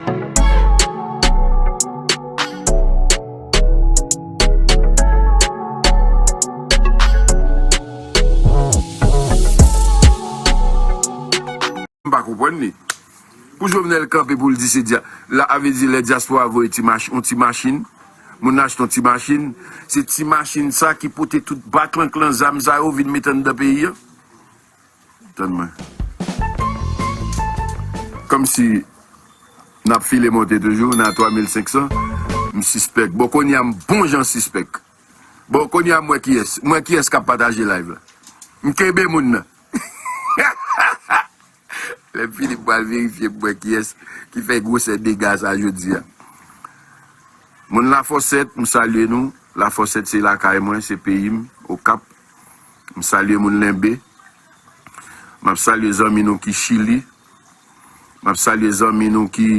Mpa konprann li. Pou Jovenel kanpe pou l di se dya, la a vle di lè dyaspora voye ti mach, yon ti machin, moun nan achte yon ti machin, se ti machin sa ki pote tout baklanklan zam sa yo vin mete anndan peyi an? Tann mwen. Komsi nap file monte toujou nan 3500 m sispèk bon konya m bon jan sispèk bon konya m wè kiyès m wè kiyès kap pataje live la m kenbe moun nan hahaha lèm fini m pral verifye m wè kiyès ki fè gwosè dega sa jodia moun lafòsèt m salye nou lafòsèt se lakay mwen se peyi m okap. M salye moun Lenbe. M ap salye zanmi nou ki Chili. M ap salye zanmi nou ki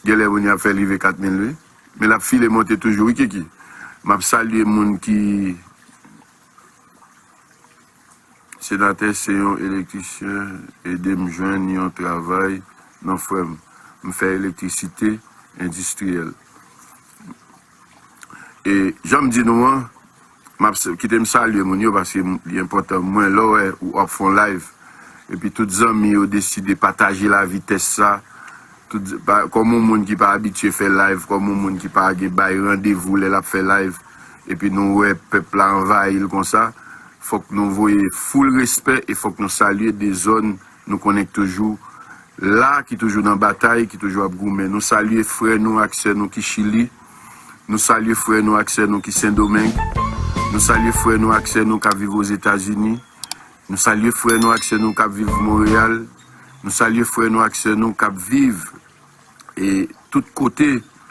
Gen lè moun y ap fè rive 4 mil wi. Men l ap file monte toujou wi Kiki. M ap salye moun ki Senatè se yon elektrisyen ede m jwenn yon travay non frè m. M fè elektrisite endistriyèl. E jan m di nou an. Map kitem salye moun yo paske li enpòtan mwen lèw wè wap fon live epi tout zanmi yo deside pataje la vitès sa tout kòm yon moun ki pa abitye fè live kòm yon moun ki pa gen bay randevou lè lap fè live epi nou wè pèp la anvayil konsa fòk nou voye foul respè e fòk nou salye de zòn nou konnen ki toujou la ki toujou nan batay ki toujou ap goumen nou salye frè nou ak sè nou ki chili. Nou salye frè nou ak sè nou ki Sendomeng. Nou salye frè nou ak sè nou k ap viv Ozetazini. Nou salye frè nou ak sè nou k ap viv Monreyal. Nou salye frè nou ak sè nou k ap viv e tout kote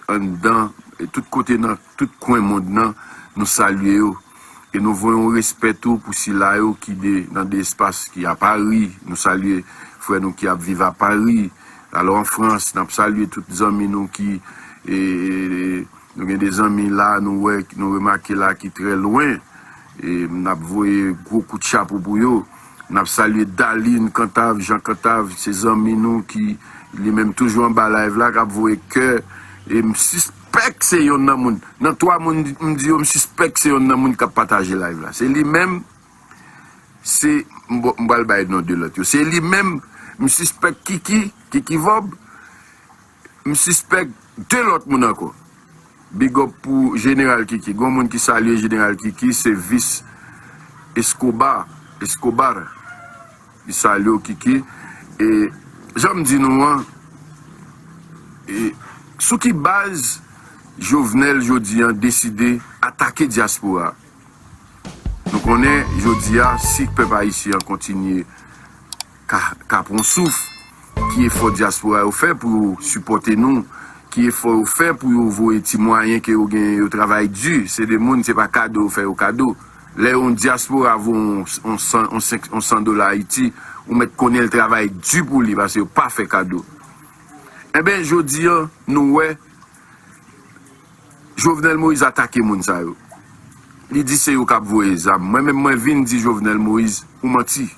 anndan, tout kote nan tout kwen mond nan. Nou salye yo. E nou voye yon respè tou pou sila yo ki de nan de espas ki a Pari. Nou salye frè nou ki ap viv a Pari. Alò an Frans, n ap salye tout zanmi nou ki e nou gen de zanmi la nou wè ki nou remake la ki trè lwen. E n ap voye gwo kout chapo pou yo. N ap salye Dalin Kantav, Jan Kantav, se zanmi nou ki li menm toujou anba live la k ap voye kè. E m sis. sispèk se yonn nan moun, nan 3 moun m di yo m sispèk se yonn nan moun kap pataje live la. Se li menm, se, m pral bay non 2 lòt yo. Se li menm, m sispèk Kiki, Kiki Vob, m sispèk 2 lòt moun ankò. Big up pou Jeneral Kiki. Gon moun ki salye Jeneral Kiki, se Vice Escobar, Escobar. Li salye w Kiki e jan m di nou an e sou ki baz Jovenel jodi an deside atake dyaspora? Nou konnen jodi a si pèp ayisyen an kontinye ka ka pran souf ki efò dyaspora yo fè pou yo sipòte nou, ki efò yo fè pou yo voye ti mwayen ke yo genyen yo travay di, se de moun se pa kado yo fè yo kado. Lè yon diaspora vo yon san dola Ayiti, ou mèt konnen l travay di pou li, pase yo pa fè kado. Enben, jodi an, nou wè, Jovenel Moïse atake moun sa yo. Li di se yo k ap voye zam. Mwen menm, mwen vin di Jovenel Moïse, ou manti.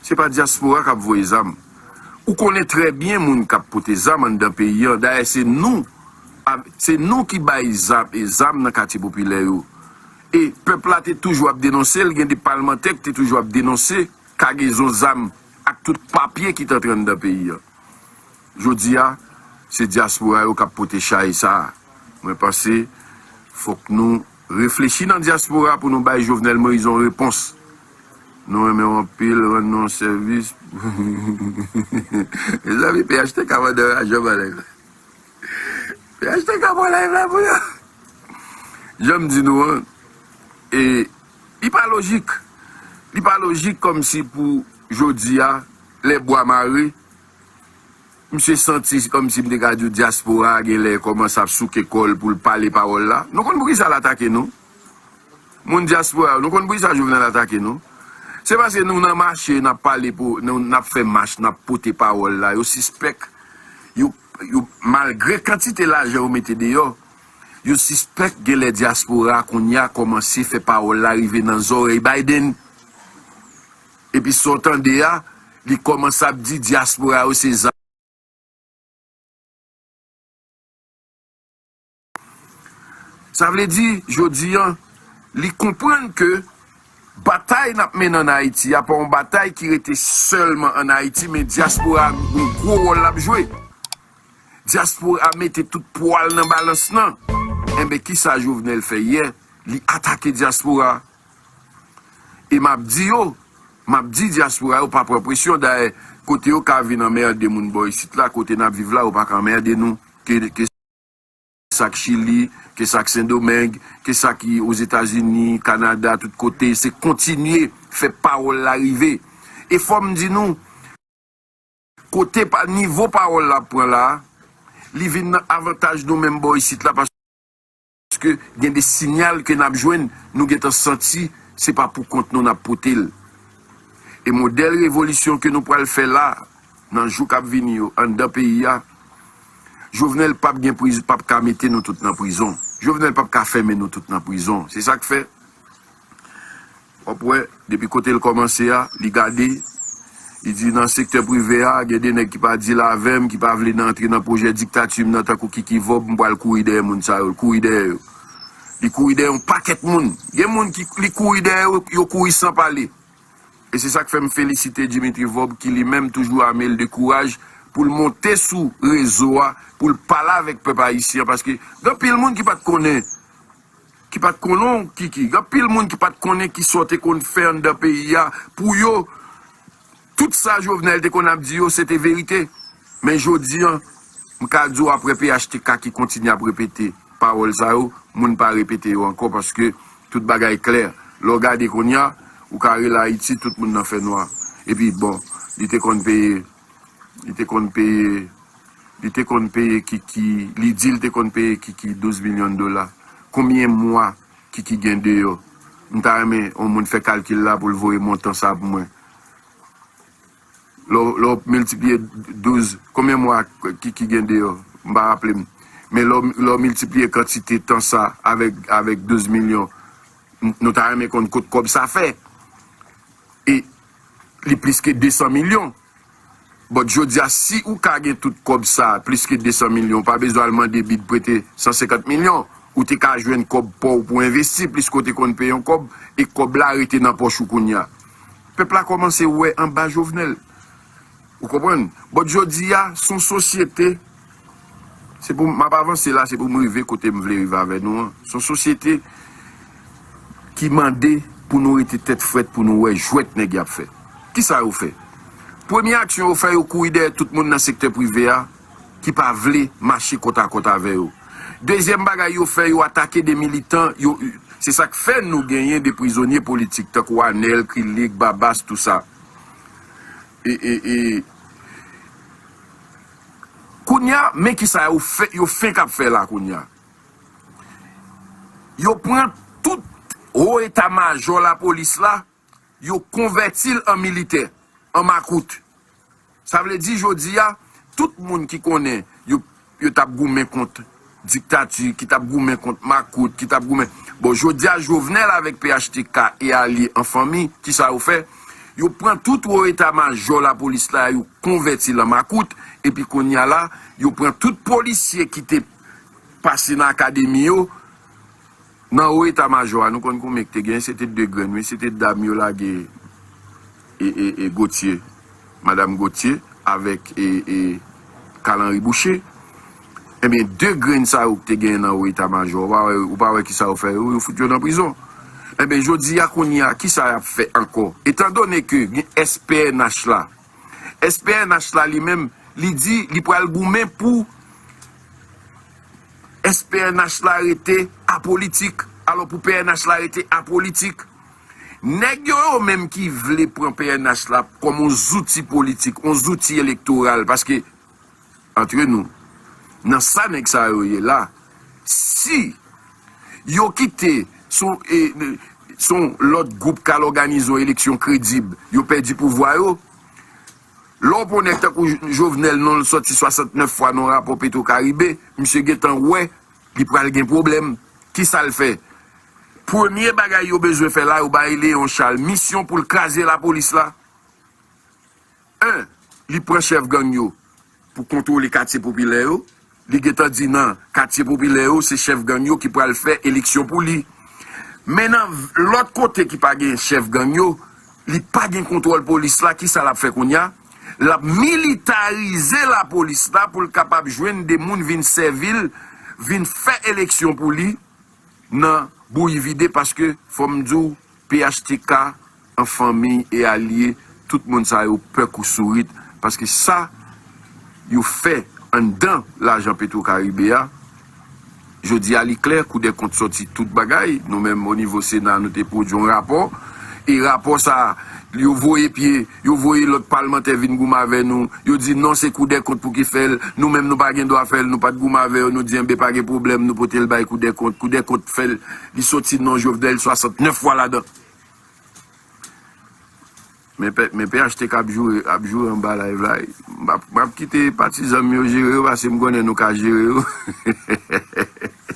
Se pa diaspora k ap voye zam. Ou konnen trè byen moun k ap pote zam anndan peyi an. Dayè, se nou, se nou ki bay zam nan katye popilè yo. E pèp la te toujou ap denonse l, gen de palmantè ki te toujou ap denonse kagezon zam ak tout papye ki t antre anndan peyi an. Jodi a, se dyaspora yo k ap pote chay sa a. Mwen panse fòk nou reflechi nan dyaspora pou nou bay Jovenel Moïse yon repons. Nou renmen w anpil, rann nou yon sèvis pou Mezanmi phtk mandan raje balèn. Piyaj te ka pran live la pou yo. Janm di nou an, e li pa lojik. Li pa lojik kòm si pou jodi a, lè bwa mare, misye santi kòm si m te ka di w dyaspora a gen lè kòmanse ap souke kò l pou l pale pawòl la. Nou konn poukisa l atake nou? Moun dyaspora yo, nou konn poukisa Jovenel atake nou? Se paske nou nan mache, n ap pale pou, n ap fè mach, n ap pote pawòl la, yo sispèk, yo. Yo malgre kantite lajan yo mete deyò, yo sispèk genlè dyaspora kounya kòmanse fè pawòl la rive nan zòrèy Biden. Epi sa w tande a, li kòmanse ap di dyaspora yo se zam. Sa vle di, jodi an, li konprann ke batay nap mennen an Ayiti a pa yon batay ki rete sèlman an Ayiti men dyaspora a gon gwo wòl lap jwe. Dyaspora a mete tout pwa l nan balans lan. Enben kisa Jovenel fè yè? Li atake dyaspora a. E map di yo, map di dyaspora yo pa pran presyon. Dayè, kote yo ka vin anmerde moun bò isit la, kote nap viv la yo pa ka anmerde nou. Ke sa k Chili, ke sa k Sendomeng, ke sa ki Ozetazini, Kanada, tout kote, se kontinye fè pawòl la rive. E fò m di nou, kote nivo pawòl la ap pran la, li vin nan avantaj nou menm bò isit la paske gen de sinyal ke n ap jwenn, nou gen tan santi se pa pou kont nou n ap pote l. E modèl revolisyon ke nou pral fè la, Nan jou kap vini yo anndan peyi a Jovenel pap gen prizon pap ka mete nou tout nan prizon Jovenel pap ka fèmen nou tout nan prizon se sak fè wap wè depi kotel kòmanse a li gade li di nan sektè prive a gen de nèg ki pa dil avèm ki pa vle nan antre nan pwojè diktatim nan tankou kiki vòb m pwal kouri dèyè moun sa yo l kouri dèyè yo li kouri dèyè yon pakèt moun gen moun ki li kouri dèyè yo yo kouri san pale. E se sak fèm felisite Dimitri Vorbe ki li menm toujou amel de kouraj poul monte sou rezo a poul pale avèk pèp ayisyen an paske gen anpil moun ki pat konnen ki pat konnen w Kiki gen anpil moun ki pat konnen kisa w te konn fè anndan peyi a pou yo tout sa Jovenel te konn ap di yo se te verite men jodi an M ka di w aprè phtk ki kontinye ap repete pawòl sa yo, moun pa repete yo ankò paske tout bagay klè. Lè w gade kounya, ou ka rele Ayiti tout moun nan fè nwa. Epi bon, li te konn peye, li te konn peye, li te konn peye Kiki, li di l te konn peye Kiki 12 milyon dola. Konbyen mwa Kiki gen deyò? M ta renmen yon moun fè kalkil la pou l voye montan sa pou mwen. Lè w miltipliye 12, konbyen mwa ki gen deyò? M pa raple m. Men lè w miltipliye kantite tan sa avèk 12 milyon, nou ta renmen konn kot kòb sa fè. E li plis ke 200 milyon. But jodi a, si ou ka gen tout kòb sa, plis ke 200 milyon, ou pa bezwen al mande bid prete 150 milyon. Ou te ka jwenn kòb pa w pou envesti, pliske w te konn peye yon kòb, e kòb la rete nan pòch ou kounye a. Pèp la kòmanse wè anba Jovenel. Ou konprann? But jodi a, s on sosyete, se pou m ap avanse la, se pou m rive kote m vle rive avè nou an, s on sosyete ki mande pou nou rete tèt frèt pou nou wè jwèt nèg y ap fè. Kisa yo fè? Premye aksyon yo fè, yo kouri dèyè tout moun nan sektè prive a. ki pa vle mache kòt a kòt avè yo. Dezyèm bagay yo fè, yo atake 2 militan yo u. Se sa k fè nou genyen 2 prizonye politik tankou Anèl, Krilik, Babas, tou sa. E, e, e. Kounye a, men ki sa yo fè, yo fenk ap fè la kounye a. Yo pran tout wo eta majò lapolis la. Yo konvèti l an militè, an makout. Sa vle di jodi a, tout moun ki konnen yo yo t ap goumen kont diktati, ki t ap goumen kont makout, ki t ap goumen. Bon, jodi a Jovenel avèk phtk e alye an fanmi, ki sa yo fè? Yo pran tout wo eta majò lapolis la, yo konvèti l an makout, epi kounye a la, yo pran tout polisye ki te pase nan akademi yo, Nan wo eta majò a nou konn konbyen ki te gen se te 2 grenn wi se te dam yo lage e Gotye madam Gotye avèk e Carl Henry Boucher ebyen 2 grenn sa yo ki te gen nan wo eta majò ou pa wè kisa yo fè yo yo fout yo nan prizon ebyen jodi a kounye a kisa yap fè ankò etan done ke gen SPNH la SPNH la li menm li di li pral goumen pou. Èske pnh la rete apolitik? Alò pou pnh la rete apolitik, nèg yo yo menm ki vle pran pnh la kòm yon zouti politik, yon zouti elektoral paske antre nou, nan sa nèg sa yo ye la, si yo kite son lòt gwoup k al òganize yon eleksyon kredib, yo pèdi pouvwa yo. Lè w pran w nèg tankou Jovenel non l sòti 69 fwa nan rapò Petro Caribe, misye gentan wè li pral gen pwoblèm. Kisa l fè? Premye bagay yo bezwen fè la yo bay Léon Charles misyon pou l kraze lapolis la. 1, Li pran chèf gang yo pou kontwole katye popilè yo. Li gentan di nan katye popilè yo se chèf gang yo ki pral fè eleksyon pou li. Men nan lòt kote ki pa gen chèf gang yo, li pa gen kontwòl polis la, kisa l ap fè kounye a? L ap militarize lapolis la pou l kapab jwenn 2 moun vin sèvi l, vin fè eleksyon pou li, nan bouyi vide paske fòm diw phtk an fanmi e alye tout moun sa yo pè kou sourit paske sa yo fè anndan lajan petrocaribe a jodi a li klè kou dè kont sòti tout bagay nou menm onivo sena nou te pwodwi yon rapò e rapò sa yo voye pye Yo voye lòt palmantè vin goumen avè nou. Yo di non se koudèkont pou ki fè l. Nou menm nou pa gen dwa fè l. Nou pa t goumen avè yo. Nou di enben pa gen pwoblèm nou pote l bay koudèkont. Koudèkont fè l. Li soti non Jovenel 69 fwa ladan. Men phtk ap joure ap joure anba live la wi. M ap kite patizan m yo jere yo pase m konnen nou ka jere yo.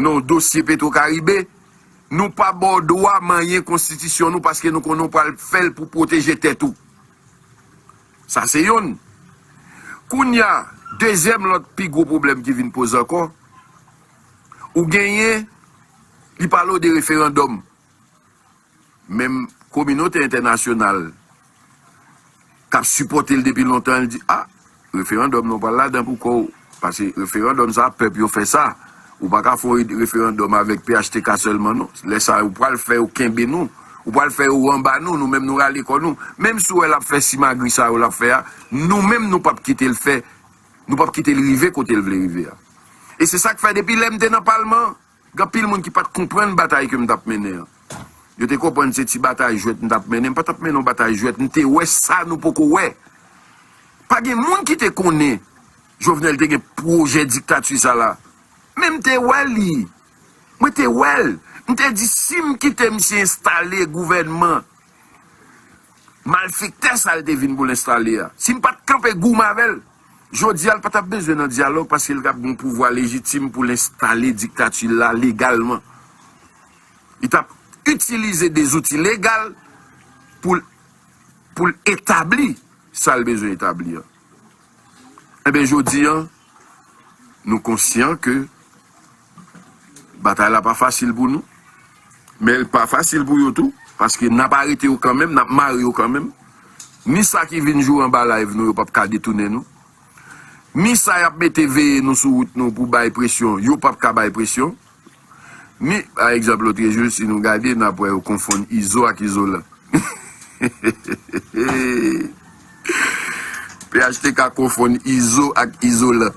Non dosye petro karibe Nou pa baw dwa manyen konstitisyon nou paske nou konnen w pral fèl pou pwoteje tèt ou sa se yonn kounya dezyèm lòt pi gwo pwoblèm ki vin poze ankò ou genyen li pale w de referandòm. Menm kominote entènasyonal k ap sipòte l depi lontan an di a, referandòm nan w pral ladan pou kò w, pase referandòm sa a pèp yo fè sa, ou pa ka fè yon referandòm avèk phtk sèlman non, lè sa a ou pral fè yo kenbe nou, ou pral fè yo anba nou, nou menm nou rale kò nou, menm si w wè l ap fè simagri sa yo l ap fè a, nou menm nou p ap kite l fè, nou p ap kite l rive kote l vle rive a. E se sa k fè depi lè m te nan palman an, Gen anpil moun ki pa t konprann batay ke m t ap mennen an. Yo te konprann se ti batay jwèt m t ap mennen. M pa t ap mennen yon batay jwèt. M te wè sa nou poko wè. Pa gen moun ki te konnen Jovenel te gen pwojè diktati sa la. Men m te wè li. Mwen te wè l. M te di si m kite misye enstale gouvènman. Malfektè sa l te vin pou l enstale a, si m pa t kanpe gou m avè l, jodi a l pa t ap bezwen nan dyalòg paske l t ap gen yon pouvwa lejitim pou l enstale diktati l la legalman. Li t ap itilize de zouti legal pou l etabli sa l bezwen etabli an. Enben jodi an, nou konsyan ke batay la pa fasil pou nou, men li pa fasil pou yo tou, paske n ap arete yo kanmenm, n ap mare yo kanmenm, ni sa ki vin jwe anba live nou yo p ap ka detounen nou, ni sa y ap mete veye nou sou wout nou pou bay presyon, yo p ap ka bay presyon. Ni pa egzanp lotrejou si nou gade nap wè yo konfonn izo ak izolan hehehehehehe phtk konfonn izo ak izolan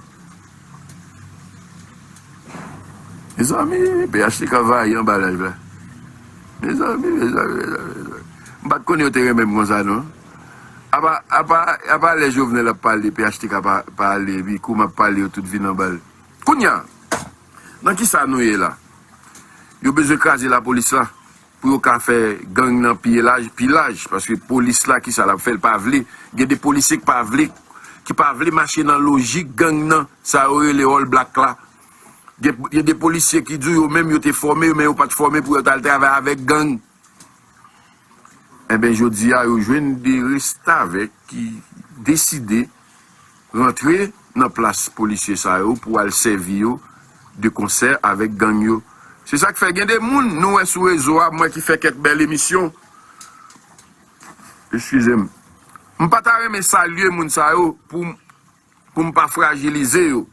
mezanmi phtk vayan anba laj la mezanmi mezanmi mezanmi mezanmi m pat konnen yo te renmen m konsa non apa apa apa lè jovenel ap pale phtk pa ale epi kou map pale yo tout vin anbal kounya. Nan kisa nou ye la? Yo bezwen kraze la police la pou yo ka fè gang nan pi elaj, pi laj paske police la kisa lap fè li pa vle gen de policier ki pa vle ki pa vle mache nan lojik gang nan sa yo rele all black la gen de policier ki di w yo menm yo te fòme men yo pat fòme pou yo tal travay avèk gang. Enben jodi a yo jwenn 2 restavèk ki deside rantre nan plas polisye sa yo pou al sèvi yo de konsè avèk gang yo. Se sa k fè gen 2 moun nou wè sou rezo a mwen ki fè kèk bèl emisyon, eskize m, m pa ta renmen salye moun sa yo pou m. Pou m pa frajilize yo.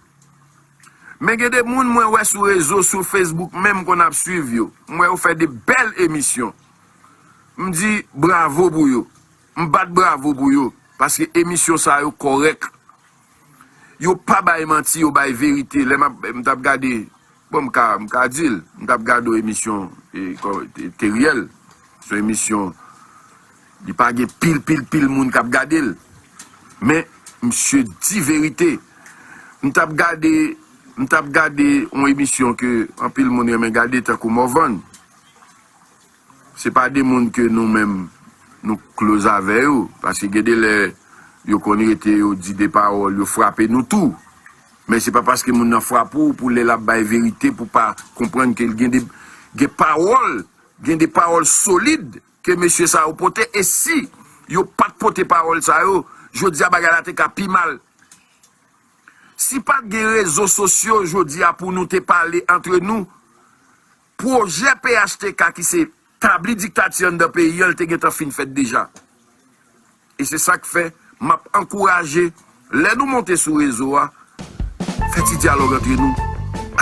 Men gen de moun mwen wè sou rezo, sou Facebook menm konn ap swiv yo. M wè yo fè de bèl emisyon. M di bravo pou yo. M bat bravo pou yo. Paske emisyon sa yo kòrèk. Yo pa bay manti, yo bay verite. Lè m ap, m t ap gade. Bon m ka m ka di l, m tap gade yon emisyon Teriel, son emisyon li pa gen pil pil pil moun kap gade l, men misye di verite. M tap gade m tap gade yon emisyon ke anpil moun renmen gade tankou Morvan. Se pa de moun ke nou menm nou close avè yo, paske gen de lè yo konn rete yo di de pawòl yo frape nou tou. Men se pa paske moun nan frape w pou lè l ap bay verite pou pa konprann ke gen de gen pawòl, gen de pawòl solid ke mesye sa yo pote e si yo pat pote pawòl sa yo jodi a bagay la te ka pi mal. Si pat gen rezo sosyo jodi a pou nou te pale antre nou Pwojè phtk ki se tabli diktati anndan peyi an li te gentan fin fèt deja. E se sa k fè m ap ankouraje lè nou monte sou rezo a fè ti dyalòg antre nou,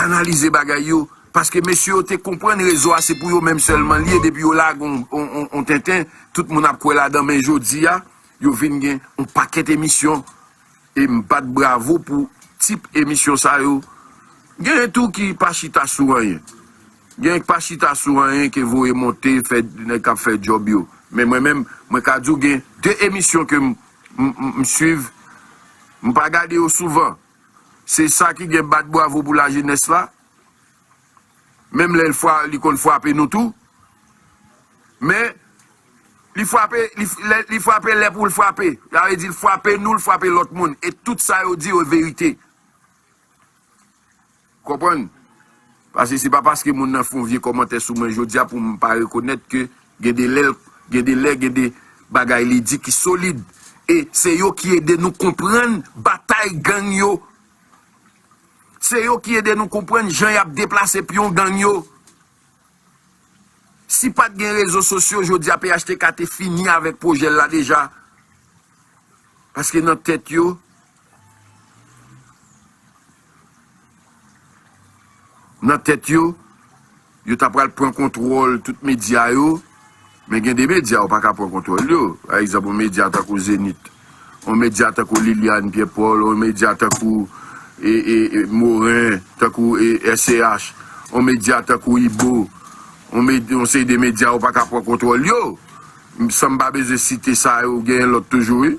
analize bagay yo paske mesye yo te konprann rezo a se pou yo menm sèlman li ye depi yo lage yon tenten tout moun ap kwè ladan men jodi a yo vin gen yon pakèt emisyon e m bat bravo pou tip emisyon sa yo, genyen tou ki pa chita sou anyen, genyen k pa chita sou anyen ke voye monte fè nèg kap fè djòb yo, men mwen menm mwen ka di w gen 2 emisyon ke m m swiv, m pa gade yo souvan, se sa ki gen bat bravo pou lajenès la, Menm lè li konn fwape nou tou. Men, li fwape lè pou l fwape. Sa vle di l fwape nou, l fwape lòt moun. E tout sa yo di yo verite. Konprann? Pase se pa paske moun nan fon vye kòmantè sou mwen jodi a pou m pa rekonèt ke gen de lè, gen de lè, gen de bagay li di ki solid. E se yo ki ede nou konprann batay gang yo. Se yo ki ede nou konprann jan y ap deplase pyon gang yo. Si pa t gen rezo sosyo jodi a phtk te fini avèk pwojè l la deja. Paske nan tèt yo. Nan tèt yo. Yo ta pral pran kontwòl tout medya yo, men gen de medya yo pa ka pran kontwòl yo. Pa egzanp, yon medya tankou Zenith, yon medya tankou Liliane Pierre Paul, yon medya tankou Morin, tankou SCH, yon medya tankou Ibo, yon seri de medya yo pa ka pran kontwòl yo. San m pa bezwen site sa yo, genyen lòt toujou wi.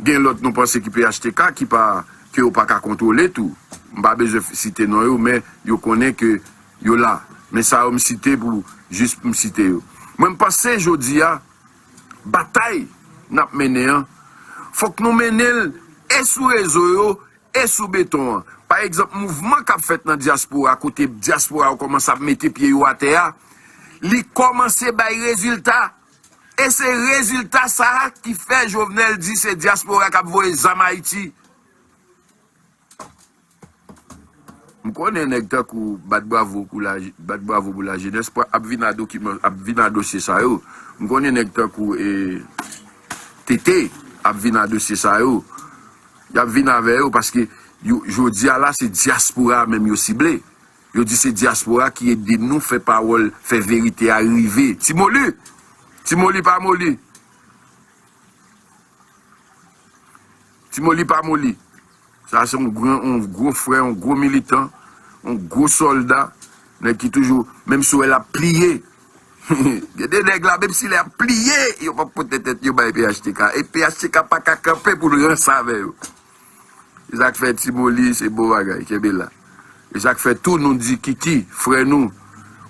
Gen lòt nou panse ki phtk ki pa, ke yo pa ka kontwole tou. M pa bezwen site non yo, men yo konnen ke. Yo la, men sa yo m site pou jis pou m site yo. Mwen m panse jodi a, batay n ap mennen an, fòk nou mennen l e sou rezo yo e sou beton an. Pa egzanp, mouvman k ap fèt nan dyaspora, kote dyaspora yo kòmanse ap mete pye yo atè a, li kòmanse bay rezilta. E se rezilta sa a ki fè Jovenel di se dyaspora k ap voye zam Ayiti. M konnen nèg tankou bat bravo pou la bat bravo pou la jenès pwa ap vin a dokiman ap vin a dosye sa yo m konnen nèg tankou e TT ap vin a dosye sa yo y ap vin avè yo paske yo jodi a la se dyaspora a menm yo sible yo di se dyaspora a ki ede nou fè pawòl fè verite a rive ti moli ti moli pa moli. Ti moli pa moli. Sa se yon gran, yon gwo frè, yon gwo militan, yon gwo sòlda. Nèg ki toujou, menm si w wè l ap pliye. Gen de nèg la, menm si lè ap pliye, yo p ap pote tèt yo bay phtk. E phtk pa ka kanpe pou l ranse avè yo. Se sa k fè ti moli se bon bagay. Kenbe la. E sa k fè tou nou di Kiki, frè nou,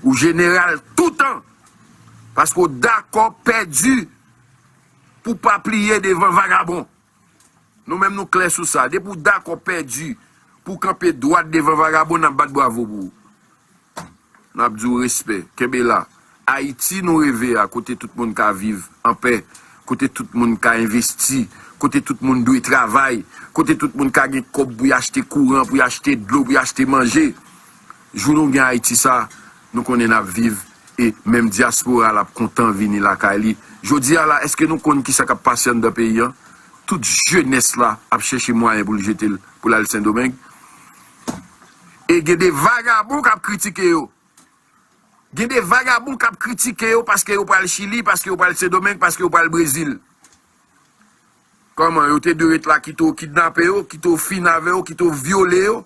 ou jeneral toutan. Paske w dakò pèdi. Pou pa pliye devan vagabon. Nou menm nou klè sou sa. Depi w dakò pèdi pou w kanpe dwat devan vagabon, n ap bat bwavo pou ou. N ap di w respè. Kenbe la. Ayiti nou reve a, kote tout moun ka viv anpè, kote tout moun ka envesti, kote tout moun dwe travay, kote tout moun ka gen kòb pou y achte kouran, pou y achte dlo, pou y achte manje. Jou nou gen Ayiti sa, Nou konnen nap viv e menm diaspora la ap kontan vini lakay li. Jodia la eske nou konn kisa kap pase anndan peyi an? Tout jenès la ap chèche mwayen pou l jete l pou l al sendomeng. E gen de vagabon kap kritike yo. Gen de vagabon kap kritike yo paske yo pral chili, paske yo pral sendomeng, paske yo pral brezil. Kòman yo te dwe ret la kite w kidnape yo, kite w fin avè yo, kite w vyole yo.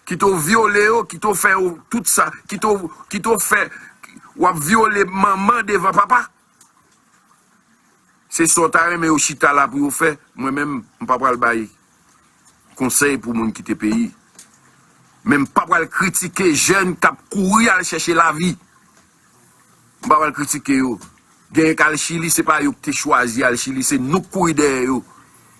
Kite w vyole yo, kite w fè yo tout sa, kite w, kite w fè, w ap vyole manman devan papa. Se sa w ta renmen yo chita la pou yo fè, mwen menm m pa pral bay konsèy pou moun kite peyi. Men m pa pral kritike jèn k ap kouri al chèche lavi. M pa pral kritike yo. Genyen k al Chili, se pa yo ki te chwazi al Chili, se nou k kouri dèyè yo.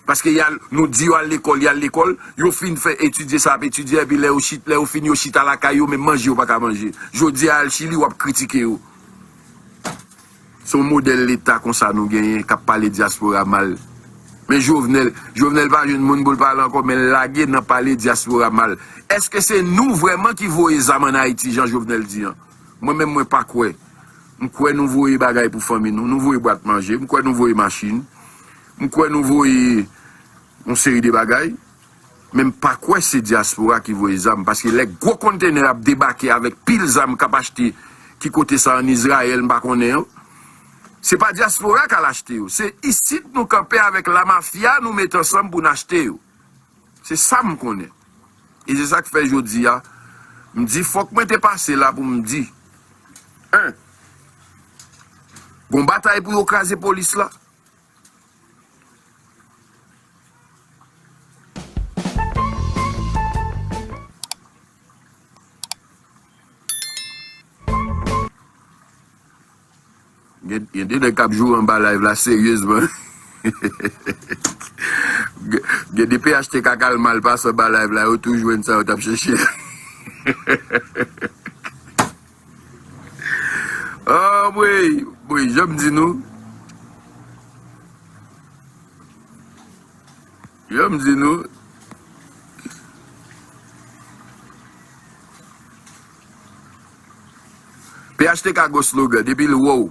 Paske y al, nou di yo al lekòl, y al lekòl, yo fin fè etidye sa y ap etidye, epi lè yo chit, lè yo fin yo chita lakay yo menm manje yo pa ka manje. Jodi a al Chili, w ap kritike yo. Se yon modèl leta konsa nou genyen k ap pale dyaspora mal. Men Jovenel, Jovenel pa jwenn moun pou l pale ankò men l lage nan pale dyaspora mal. Èske se nou vrèman ki voye zam ann Ayiti jan Jovenel di an? Mwen menm mwen pa kwè. M kwè nou voye bagay pou fanmi nou. Nou voye bwat manje. M kwè nou voye machin. M kwè nou voye yon seri de bagay. Men m pa kwè se dyaspora ki voye zam. Paske lè gwo kontenè ap debake avèk pil zam k ap achte ki kote sa an Izrayèl m pa konnen yo. Se pa dyaspora k al achte yo. Se isit nou kanpe avèk lamafya nou met ansanm pou n achte yo. Se sa m konnen. E se sa k fè jodi a, m di fòk mwen te pase la pou m di, 1, Gon batay pou yo kraze polis la. Gen de nèg kap joure anba live la seryezman Gen de phtk kal mal pase anba live la yo tou jwenn sa yo tap chèche a Anmweyy bon janm di nou Janm di nou Phtk gwo slogan depi l wè w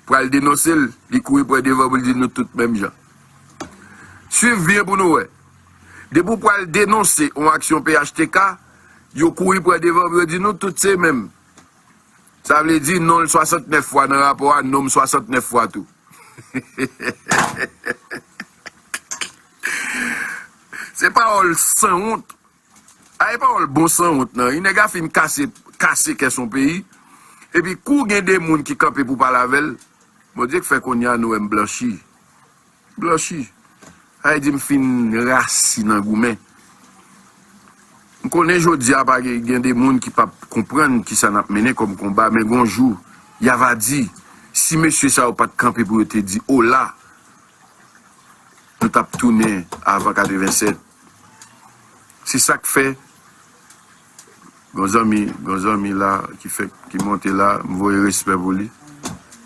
pral denonse l li kouri pran devan pou l di nou tout menm jan. Swiv byen pou nou wè. Depi w pral denonse yon aksyon phtk yo kouri pran devan pou yo di nou tout se menm. Sa vle di non l 69 fwa nan rapò a non m 69 fwa tou. Se pawòl sanwont. A e pawòl bon sanwont nan yn nèg a fin kase kase kè son peyi epi kou gen de moun ki kanpe pou pale avèl Bondye k fè konnya nou wèm blanchi blanchi a e di m fin rasi nan goumen m konnen jodia pa gen gen de moun ki pap konprann kisa nap mennen kòm konba men gon jou ya va di si mesye sa yo pat kanpe pou yo te di ola nou tap tounen avan 87. Se sak fè Gon zanmi Gon zanmi la ki fèk ki monte la m voye respè pou li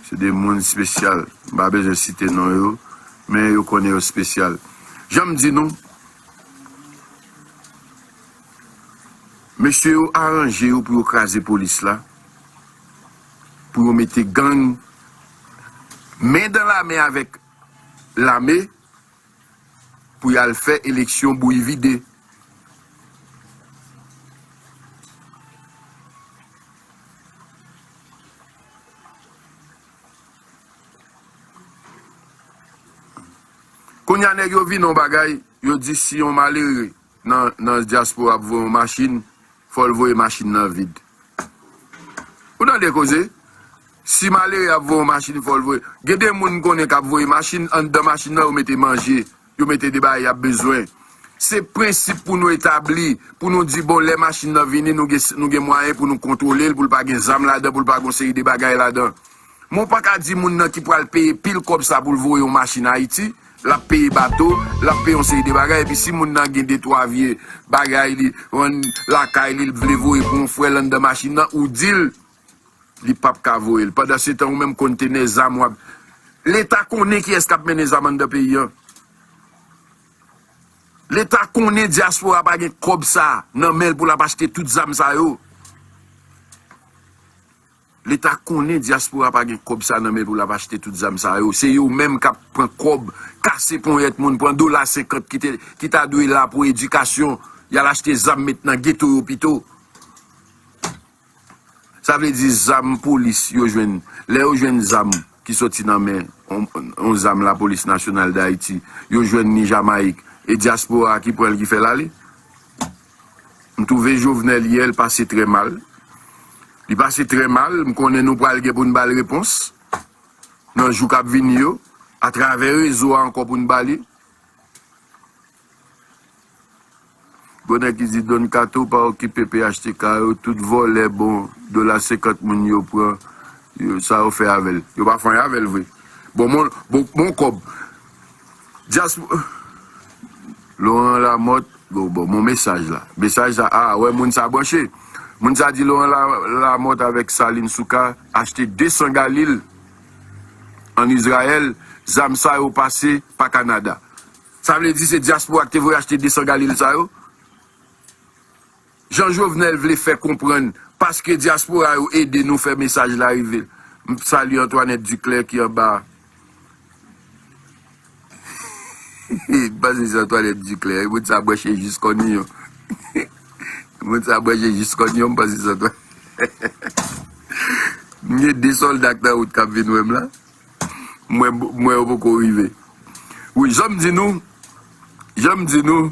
se 2 moun espesyal m pa bezwen site non yo men yo konnen yo espesyal jan m di nou mesye yo aranje yo pou yo kraze polis la pou yo mete gang men dan la men avèk lame. pou yal fè eleksyon bouyi vide. Kounya nèg yo vin on bagay yo di si on malere nan nan diaspora ap voye yon machine fol voye machine nan vide ou tande koze si malere ap voye yon machine fol voye gen de moun m konnen kap voye machine andan machine nan yo mete manje yo mete de bagay yap bezwen se prensip pou nou etabli pou nou di bon lè machine nan vini nou gen nou gen mwayen pou nou kontwolel poul pa gen zam ladan poul pa gon seri de bagay ladan. Men w pa ka di moun nan ki pral peye pil kòb sa pou l voye yon machin Ayiti, l ap peye bato, l ap peye yon seri de bagay, epi si moun nan gen detwa vye bagay li vann lakay li, li vle voye pou yon frè l anndan machin nan, ou di l li p ap ka voye l. Pandansetan ou menm kontenè zam w ap. Leta konnen kiyès k ap mennen zam anndan peyi an. Leta konnen dyaspora pa gen kòb sa nan men l pou l ap achte tout zam sa yo. Leta konnen diaspora pa gen kob sa nan men pou lap achte tout zam sa yo. Se yo menm kap pran kob, kase ponyet moun, pran dola 50 ki ta dwe la pou edikasyon, yal achte zam met nan geto yo pito. Sa vle di zam polis yo jwenn, le yo jwenn zam ki soti nan men yon zam la polis nasyonal dayiti, yo jwenn ni Jamaik e diaspora ki pran li ki fel ale. M twouve Jovenel yè l pase trè mal. Li pase trè mal, m konnen nou pral gen pou n ba l repons nan jou k ap vini yo atravè rezo a ankò pou n ba li. Bon nèg ki di Don Kato pa okipe phtk yo tout vòlè bon dola 50 moun yo pran yo sa yo fè avèl yo pa fè anyen avèl vre bon mon kòb. Diaspora Laurent Lamothe gou bon mon mesaj la mesaj sa ah wè moun sa branche moun sa di Laurent Lamothe avèk Salim Souka achte 200 galil an Israël zam sa yo pase pa Canada sa vle di se diaspora ki te voye achte 200 galil sa yo. Jan Jovenel vle fè konprann paske diaspora yo ede nou fè mesaj la rive. M salye Antoinette Duclaire ki anba a. M panse se Antoinette Duclaire. Moun sa branche jis kon yon. Moun sa branche jis kon yon m panse se Antoinette. M gen 2 solda k nan wout kap vin wè m la. M wè yo poko rive. Wi jan m di nou, jan m di nou.